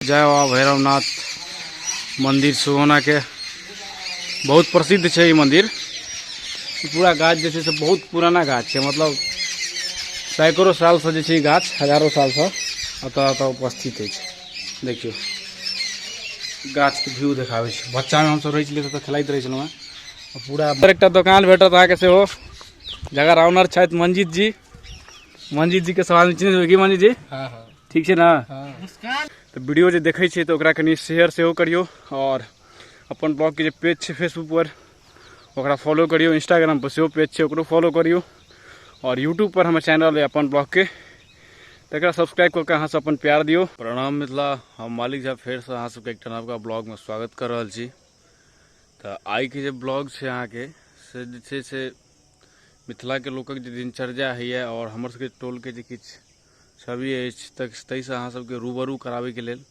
जय बाबा भैरवनाथ मन्दिर सुगौनाके बहुत प्रसिद्ध छै ई मन्दिर पूरा गाछ जे छै से बहुत पुराना गाछ छै मतलब सैकड़ो सालसँ जे छै ई गाछ हजारो सालसँ एतऽ एतऽ उपस्थित अछि देखियौ गाछके व्यू देखाबै छै बच्चामे हमसभ रहै छलियै तऽ खेलाइत रहै छलहुँ हेँ पूरा एकटा दोकान भेटत अहाँके सेहो जकर ऑनर छथि मंजीत जी मंजीत जीके सवाल चिन्है की मंजीत जी हँ हँ ठीक छै ने तऽ वीडियो जे देखै छियै तऽ ओकरा कनि शेयर सेहो करियौ आओर अपन ब्लॉगके जे पेज छै फेसबुकपर ओकरा फॉलो करियौ इंस्टाग्रामपर सेहो पेज छै ओकरो फॉलो करियौ आओर यूट्यूबपर हमर चैनल अइ अपन ब्लॉगके तकरा सब्सक्राइब कऽ कऽ अहाँसँ अपन प्यार दियौ प्रणाम मिथिला हम मालिक झा फेरसँ अहाँ सबके एकटा नवका ब्लॉगमे स्वागत कऽ रहल छी तऽ आइके जे ब्लॉग छै अहाँके से जे छै से मिथिलाके लोकक जे दिनचर्या होइए आओर हमर सबके टोलके जे किछु छवि अछि तऽ ताहिसँ अहाँ सबके रूबरू कराबैके लेल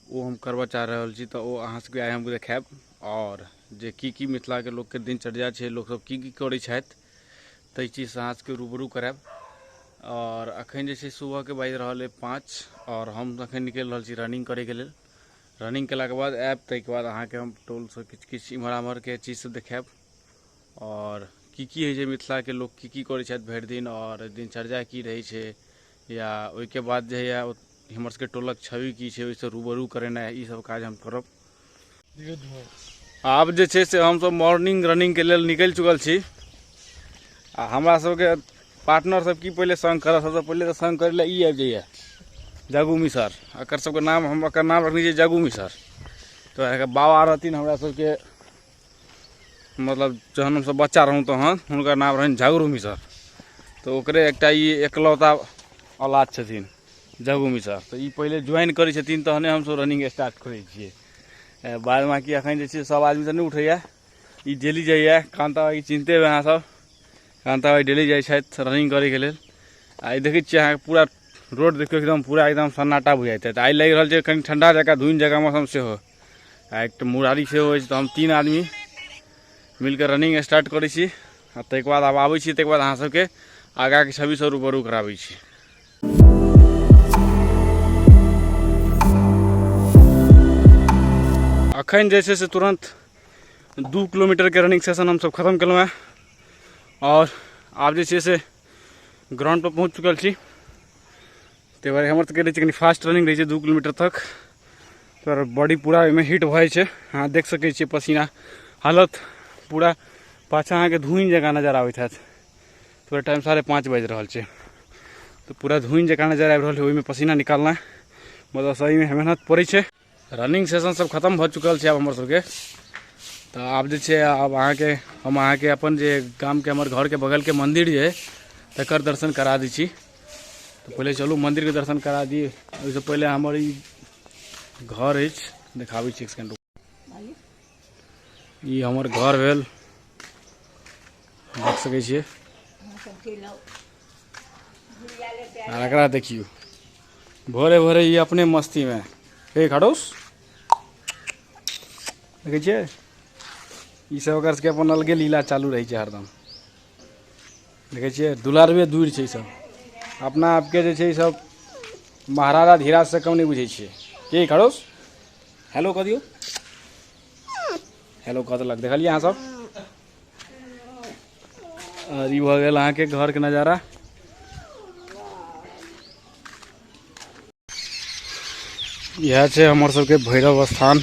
ओ हम करबऽ चाह रहल छी तऽ ओ अहाँ सबके आइ हम देखायब आओर जे की की मिथिलाके लोकके दिनचर्या छै लोकसब की की करै छथि ताहि चीजसँ अहाँ सबके रूबरू करायब आओर अखन जे छै सुबहके बाजि रहल अइ पाँच आओर हम अखन निकलि रहल छी रनिंग करैके लेल रनिंग केलाके बाद आयब ताहिके बाद अहाँके हम टोलसँ किछु किछु इम्हर आम्हरके चीज सब देखायब आओर की की होइ छै मिथिलाके लोक की की करै छथि भरि दिन आओर दिनचर्या की रहै छै या ओहिके बाद जे होइए हमर सबके टोलक छवि की छै ओहिसँ रूबरू करेनाइ ई सब काज हम करब आब जे छै से हमसब मॉर्निंग रनिंगके लेल निकलि चुकल छी आ हमरा सबके पार्टनर सब की पहिले संग करत सबसँ पहिले तऽ संग करै लए ई आबि जाइए जगू मिसर एकर सबके नाम हम एकर नाम रखने छियै जगू मिसर तऽ एकर बाबा रहथिन हमरा सबके मतलब जहन हमसभ बच्चा रहौँ तहन हुनकर नाम रहनि झगरू मिसर तऽ ओकरे एकटा ई एकलौता औलाद छथिन झगू मिसर तऽ ई पहिले ज्वाइन करै छथिन तहने हमसभ रनिंग स्टार्ट करै छियै बाद बाँकी एखन जे छै सभ आदमी तऽ नहि उठैए ई डेली जाइए कान्ताबाइके चिन्ते हेबै अहाँसभ कान्ताबाइ डेली जाइ छथि रनिंग करैके लेल आ ई देखै छियै अहाँके पूरा रोड देखियौ एकदम पूरा एकदम सन्नाटा बुझाइत हेतै आइ लागि रहल छै कनि ठण्डा जकाँ धुनि जकाँ मौसम सेहो आ एक मुरारी से हो तो हम तीन आदमी मिलकर रनिंग स्टार्ट करे छी आ तक बाद आब आबै छी तक बाद अहाँ सबके आगाके छवि सब रूबरू कराबै छी अखन जे छै से तुरन्त दू किलोमीटरके रनिंग सेशन हमसब खतम केलहुँ हेँ आओर आब जे छै से ग्राउण्डपर पहुँच चुकल छी ताहि दुआरे हमर सबके रहै छै कनि फास्ट रनिंग रहै छै दू किलोमीटर तक तर बॉडी पूरा ओहिमे हिट भऽ जाइ छै अहाँ देख सकै छियै पसीना हालत पूरा पाछा अहाँके धुनि जकाँ नजर आबैत हैत पूरा टाइम साढ़े पाँच बाजि रहल छै तऽ पूरा धुनि जकाँ नजर आबि रहल छै ओहिमे पसीना निकालनाइ मतलब सहीमे मेहनत पड़ै छै रनिंग सेशन सब खतम भऽ चुकल छै आब हमर सबके तऽ आब जे छै आब अहाँके हम अहाँके अपन जे गामके हमर घरके बगलके मन्दिर जे अइ तकर दर्शन करा दै छी तऽ पहिले चलू मन्दिरके दर्शन करा दियै ओहिसँ पहिले हमर ई घर अछि देखाबै छी एक सेकेंड ई हमर घर भेल देख सकै छियै आ एकरा देखियो भोरे भोरे ये अपने मस्ती में हे खड़ोस देखै छियै ई सब ओकर सबके अपन अलगे लीला चालू रहै छै हरदम देखै छियै दुलारबे दूर छै सब अपना आपके जे छै सब महाराजा धीराज से कम नहीं बुझे छे के खड़ोस हेलो कह दियो हेलो कह देलक देखलियै अहाँ सब और ये भऽ गेल अहाँके घरके नजारा इएह छै हमर सबके भैरव स्थान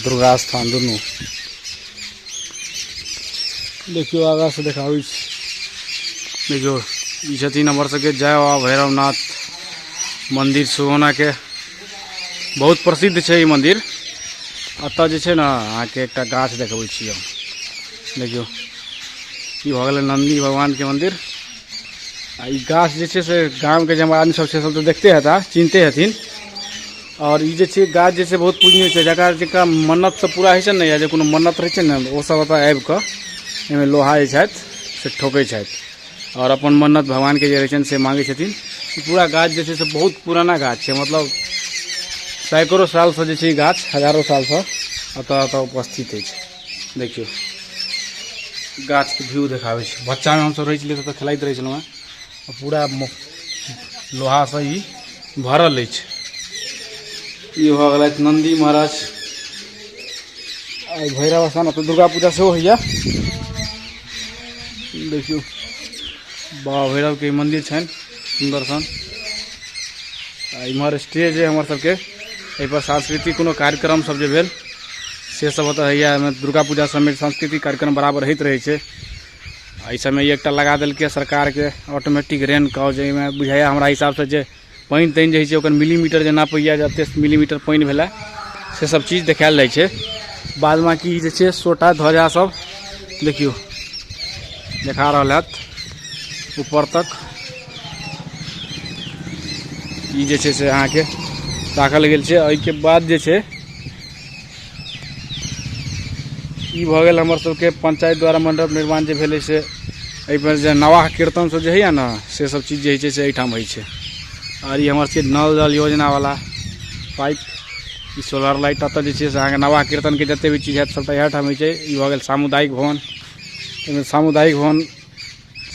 दुर्गा स्थान दुनू देखियौ आगाँसँ देखाबै छी देखियौ ई छथिन हमर सबके जय बाबा भैरवनाथ मन्दिर सुगौनाके बहुत प्रसिद्ध छै ई मन्दिर एतऽ जे छै ने अहाँके एकटा गाछ देखबै छी हम देखियौ ई भऽ गेलै नन्दी भगवानके मन्दिर आ ई गाछ जे छै से गामके जे हमर आदमी सब छै सब तऽ देखते हेता चिन्हते हेथिन आओर ई जे छै गाछ जे छै बहुत पूजनीय छै जकरा जकरा मन्नत सब पूरा होइ छै ने या जे कोनो मन्नत रहै छै ने ओ सब एतऽ आबि कऽ एहिमे लोहा जे छथि से ठोकै छथि आओर अपन मन्नत भगवानके जे रहै छनि से माँगै छथिन ई पूरा गाछ जे छै से बहुत पुराना गाछ छै मतलब सैकड़ो सालसँ जे छै ई गाछ हजारो सालसँ एतऽ एतऽ उपस्थित अछि देखियौ गाछके व्यू देखाबै छै बच्चामे हमसभ रहै छलियै तऽ खेलाइत रहै छलहुँ हेँ पूरा लोहासँ ई भरल अछि ई भऽ गेलथि नन्दी महाराज भैरव स्थान एतऽ दुर्गा पूजा सेहो होइए देखियौ बाबा भैरवके मन्दिर छनि सुन्दर सन आ इम्हर स्टेज अइ हमर सबके एहिपर सांस्कृतिक कोनो कार्यक्रम सब जे भेल से सब ओतऽ होइए एहिमे दुर्गा पूजा सबमे सांस्कृतिक कार्यक्रम बराबर होइत रहै छै आ एहि सबमे एकटा लगा देलकै सरकारके ऑटोमेटिक रेन कॉल जाहिमे बुझाइए हमरा हिसाबसँ जे पानि तानि जे होइ छै ओकर मिलीमीटर जे नापैए जे एतेक मिलीमीटर पानि भेलै से सब चीज देखायल जाइ छै बाद बाँकी जे छै सोटा ध्वजा सब देखियौ देखा रहल हत ऊपर तक ई जे छै से अहाँके राखल गेल छै एहिके बाद जे छै ई भऽ गेल हमर सबके पंचायत द्वारा मंडप निर्माण जे भेलै से एहिपर जे नवाह कीर्तन सब जे होइए ने से सब चीज जे होइ छै से एहिठाम होइ छै आओर ई हमर सबके नल जल योजनावला पाइप ई सोलर लाइट एतऽ जे छै से अहाँके नवाह कीर्तनके जतेक भी चीज हैत सबटा इएह ठाम होइ छै ई भऽ गेल सामुदायिक भवन एहिमे सामुदायिक भवन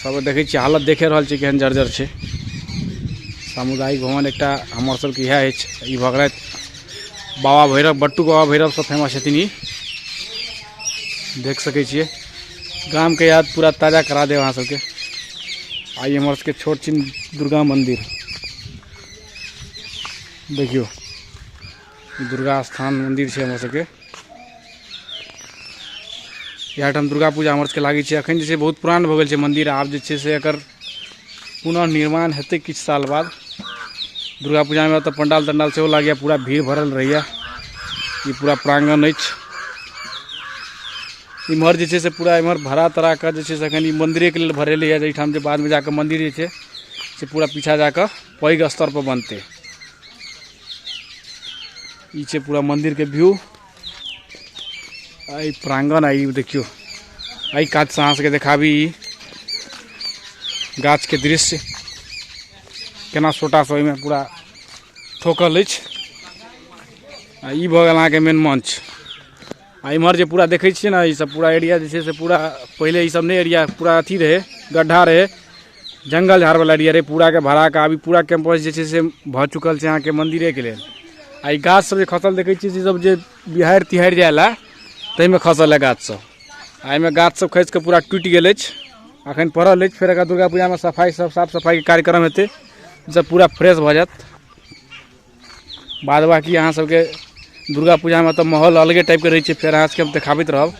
सब देखै छियै हालत देखे रहल छियै केहन जर्जर छै सामुदायिक भवन एकटा हमर सबके इएह अछि ई भगरैत बाबा भैरव बट्टू बाबा भैरव सब फेमस छथिन ई देख सकै छियै गामके याद पूरा ताजा करा देब अहाँ सबके आइ हमर सबके छोट छिन दुर्गा मन्दिर देखियौ दुर्गा स्थान मन्दिर छै हमर सबके इएह ठाम दुर्गा पूजा हमर सबके लागै छै अखन जे छै बहुत पुरान भऽ गेल छै मन्दिर आब जे छै से एकर पुनः निर्माण हेतै किछु साल बाद दुर्गा पूजामे तऽ पंडाल तंडाल सेहो लागैए पूरा भीड़ भरल रहैए ई पूरा प्राङ्गण अछि इम्हर जे छै से पूरा इम्हर भरा तरा कऽ जे छै से एखन ई मन्दिरेके लेल भरेलै यऽ जाहिठाम जे बादमे जाकऽ मन्दिर जे छै से पूरा पीछा जाकऽ पैघ स्तरपर बनतै ई छै पूरा मन्दिरके व्यू एहि प्राङ्गण आ ई देखियौ एहि कातसँ अहाँ सभके देखाबी ई गाछके दृश्य केना छोटासँ ओहिमे पूरा ठोकल अछि आ ई भऽ गेल अहाँके मेन मंच आ इम्हर जे पूरा देखै छियै ने ईसभ पूरा एरिया जे छै से पूरा पहिले ईसभ नहि एरिया पूरा अथी रहै गड्ढा रहै जङ्गल झाड़वला एरिया रहै पूराके भरा कऽ अभी पूरा कैंपस जे छै से भऽ चुकल छै अहाँके मन्दिरेके लेल आ ई गाछसभ जे खसल देखै छियै से सभ जे बिहाड़ि तिहाड़ि जाय लए ताहिमे खसल है गाछसभ आ एहिमे गाछसभ खसि कऽ पूरा टूटि गेल अछि अखन पड़ल अछि फेर एकरा दुर्गा पूजामे सफाइ सभ साफ सफाइके कार्यक्रम हेतै ईसभ पूरा फ्रेश भऽ जायत बाद बाकी अहाँ सबके दुर्गा पूजामे तऽ माहौल अलगे टाइपके रहै छै फेर अहाँ सबके हम देखाबैत रहब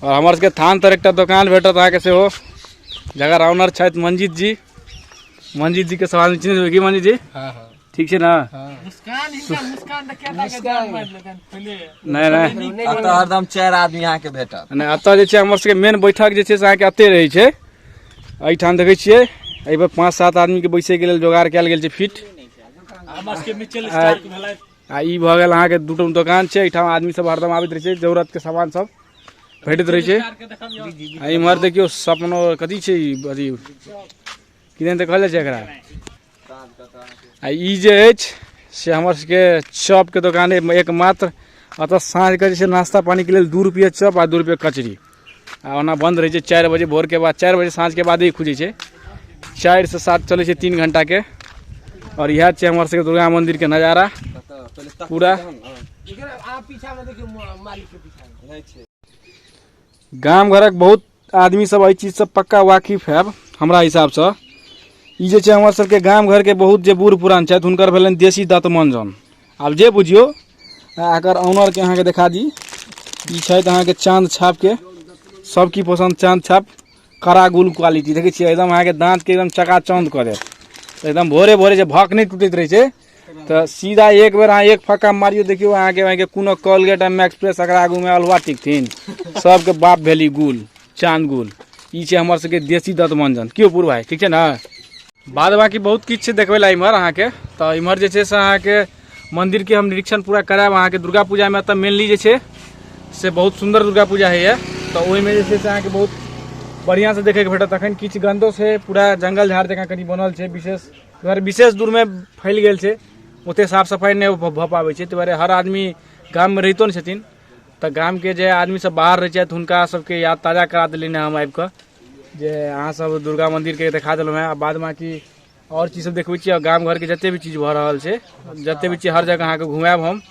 आओर हमर सबके थान तर एकटा दोकान भेटत अहाँके सेहो जकर ऑनर छथि मंजीत जी मंजीत जीके सवाल चिन्हैत हेबै की मंजीत जी हाँ हाँ ठीक छै ने हाँ मुस्कान इनका मुस्कान तक क्या था कि जान मार लेतन पहले नहि नहि एतऽ हरदम चारि आदमी अहाँके भेटत नहि एतऽ जे छै हमर सबके मेन बैठक जे छै से अहाँके एते रहै छै एहिठाम देखै छियै एहिपर पाँच सात आदमीके बैसैके लेल जोगाड़ कयल गेल छै फिट आ ई भऽ गेल अहाँके दू टम दोकान छै एहिठाम आदमी सब हरदम आबैत रहै छै जरूरतके सामान सब भेटैत रहै छै आ इम्हर देखियौ सपनो कथी छै ई अथी किदन तऽ कहल जाइ छै एकरा आ ई जे अछि से हमर सबके चॉपके दोकान अइ एकमात्र अतऽ साँझके जे छै नाश्ता पानीके लेल दू रुपैए चॉप आ दू रुपैए कचरी आ ओना बन्द रहै छै चारि बजे भोरके बाद चारि बजे साँझके बादे ई खुजै छै चारिसँ सात चलै छै तीन घण्टाके आओर इएह छै हमर सबके दुर्गा मन्दिरके नजारा पूरा गाम घरक बहुत आदमी सब एहि चीजसँ पक्का वाकिफ हैब हमरा हिसाबसँ ई जे छै हमर सबके गाम घरके बहुत जे बूढ़ पुरान छथि हुनकर भेलनि देशी दतमंजन आब जे बुझियौ एकर ऑनरके अहाँके देखा दी ई छथि अहाँके चाँद छापके सब की पसन्द चाँद छाप कड़ा गुल क्वालिटी देखै छियै एकदम अहाँके दाँतके एकदम चकाचौंध कऽ देत एकदम भोरे भोरे जे भक नहि टूटैत रहै छै तऽ सीधा एक बेर अहाँ एक फक्का मारियो देखियौ अहाँके अहाँके कोनो कॉलगेट एम एक्सप्रेस एकरा आगूमे अलवा टिकथिन सबके बाप भेली गुल चांद गुल ई छै हमर सबके देसी दत मंजन की पूर्व भाई ठीक छै ने बाद बाकी बहुत किछु छै देखबै लए इम्हर अहाँके तऽ इम्हर जे छै से अहाँके मन्दिरके हम निरीक्षण पूरा करायब अहाँके दुर्गा पूजामे एतऽ मेनली जे छै से बहुत सुन्दर दुर्गा पूजा होइए तऽ ओहिमे जे छै से अहाँके बहुत बढ़िआँसँ देखैके भेटत अखन किछु गन्दो छै पूरा जङ्गल झाड़ जकाँ कनि बनल छै विशेष अगर विशेष दूरमे फैल गेल छै ओतेक साफ सफाइ नहि भऽ पाबै छै ताहि दुआरे हर आदमी गाममे रहितो नहि छथिन तऽ गामके जे आदमीसभ बाहर रहै छथि हुनका सभके याद ताजा करा देलियनि हम आबि कऽ जे अहाँसभ दुर्गा मन्दिरके देखा देलहुँ हेँ आ बाद बाँकी आओर चीजसभ देखबै छी आ गाम घरके जतेक भी चीज भऽ रहल छै जतेक भी चीज हर जगह अहाँकेँ घुमायब हम